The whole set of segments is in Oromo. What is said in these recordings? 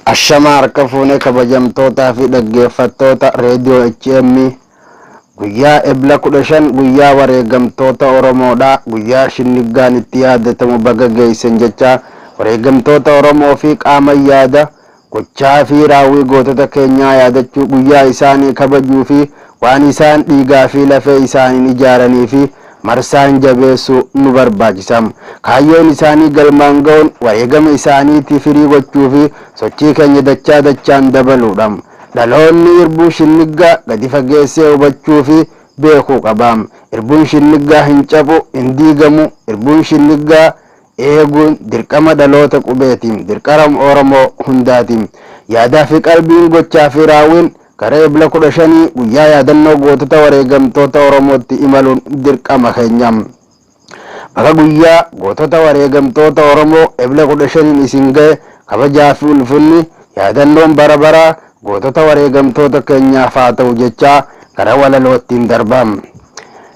Ashamaa harka fuune kabajamtootaa fi dhaggeeffattoota Radio HM guyyaa Ebla 15 guyyaa wareegamtoota Oromoodha. Guyyaa shinniggaan itti yaadatamu baga geessan jechaa wareegamtoota Oromoo fi qaaman yaada gochaa fi raawwii gootota keenyaa yaadachuu guyyaa isaanii kabajuu fi waan isaan dhiigaa fi lafee isaaniin ijaaranii fi marsaan jabeessuu nu barbaachisa. Kaayyoon isaanii galmaan ga'uun wareegama isaaniitii firii gochuu fi sochii keenya dachaa dachaan dabaluu dha. Dhaloonni irbuu shinniggaa gadi fageessee hubachuu fi beekuu qaba. Irbuun shinniggaa hin cabu, hin diigamu. Irbuun shinniggaa eeguun dirqama dhaloota qubeeti, dirqaram Oromoo hundaati. Yaadaa fi qalbiin, gochaa fi raawwiin Gara Ebla 15 guyyaa yaadannoo gootota wareegamtoota Oromootti imaluun dirqama keenya. Baga guyyaa gootota wareegamtoota Oromoo Ebla 15n isin gahe kabajaa fi ulfinni yaadannoon bara baraa gootota wareegamtoota keenyaaf haa ta'u jechaa gara walaloottiin darba.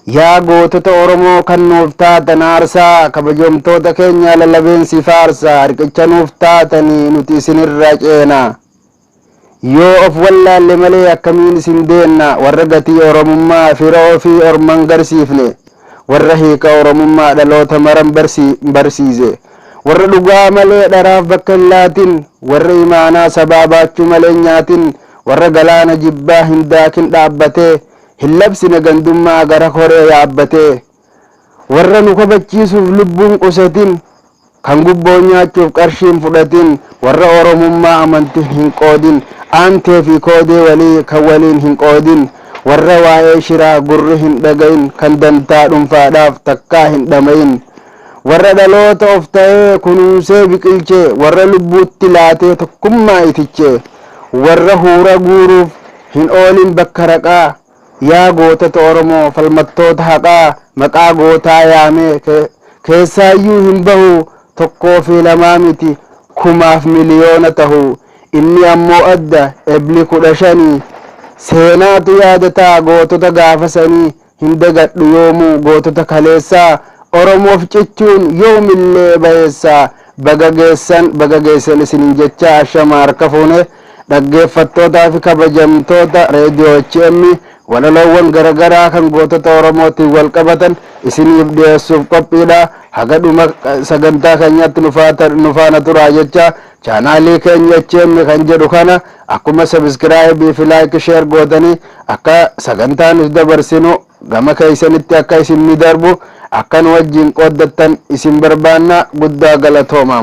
Yaa gootota Oromoo kan nuuf taatan aarsaa kabajomtoota keenya lalabeen si faarsa riqicha nuuf taatanii nuti isinirra ceena. Yoo of wallaalle malee akkamiin isin beenna warra gatii Oromummaa fira ofii orman garsiifne, warra hiika Oromummaa dhaloota maran barsiise, warra dhugaa malee dharaaf bakka hin laatin, warra imaanaa sabaa baachuu malee hin nyaatin, warra galaana jibbaa hin daakin dhaabbatee hin labsine gandummaa gara koree yaabbatee. Warra nu kabachiisuuf lubbuun qusatin, kan gubboo nyaachuuf qarshii hin fudhatin, warra Oromummaa amantiin hin qoodin, aantee fi koodee walii kan waliin hin qoodin, warra waa'ee shiraa gurri hin dhagahin, kan dantaa dhunfaadhaaf takkaa hin dhamahin, warra dhaloota of ta'ee kunuunsee biqilche, warra lubbuutti laatee tokkummaa itiche, warra huura guuruuf hin oolin bakka raqaa, Yaa gootota Oromoo falmattoota haqaa maqaa gootaa yaame keessaayyuu hin bahu tokkoo fi lamaa miti kumaaf miliyoona tahu inni ammoo adda Ebli kudha shani seenaatu yaadata gootota gaafa sanii hin dagadhu yoomuu gootota kaleessaa Oromoof cichuun yoomillee bayeessa baga geessan baga geessan isinin jechaa ashama harka fuune Dhaggeeffattootaa fi kabajamtoota Radio HM walaloowwan garagaraa kan gootota Oromootiin walqabatan isiniif dhiyeessuuf qophiidha. Haga dhuma sagantaa keenyaatti nu faana turaa jechaa chaanaalii keenya HM kan jedhu kana akkuma subscribe fi like share gootanii akka sagantaa nuti dabarsinu Gama keessanitti akka isin ni darbu akka nu wajjin qooddattan isin barbaanna. Guddaa galatoomaa!